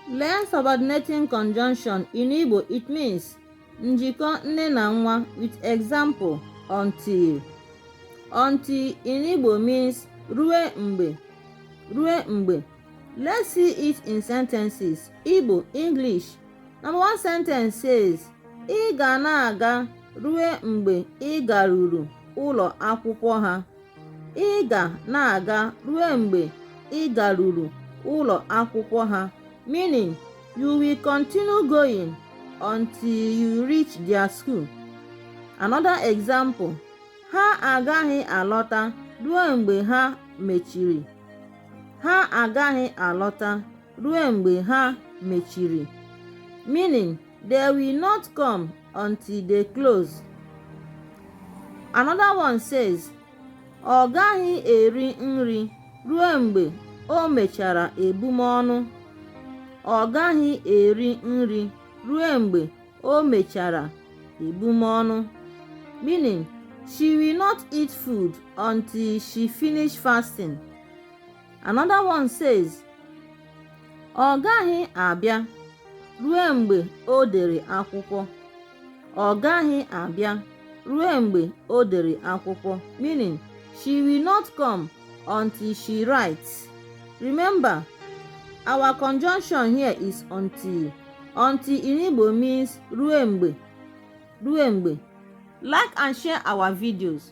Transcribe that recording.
Learn subordinating conjunction in Igbo it means njikọ nne na nwa with example until until in Igbo means rue mgbe rue mgbe let's see it in sentences Igbo English number one sentence says ị ga na-aga rue mgbe ị garuru ụlọ akwụkwọ ha ị ga na-aga rue mgbe ị garuru ụlọ akwụkwọ ha meaning you will continue going until you reach their school another example ha agaghị alọta rue mgbe ha mechiri ha agaghị alọta rue mgbe ha mechiri meaning they will not come until they close another one says ọ gaghị eri nri rue mgbe o mechara ebumọnụ ọ gaghị eri nri rue mgbe o mechara ebumọnụ meaning she will not eat food until she finish fasting. another one says ọ gaghị abịa rue mgbe o dere akwụkwọ ọ gaghị abịa rue mgbe o dere akwụkwọ meaning she will not come until she writes remember our conjunction here is until until in Igbo means rue mgbe rue mgbe like and share our videos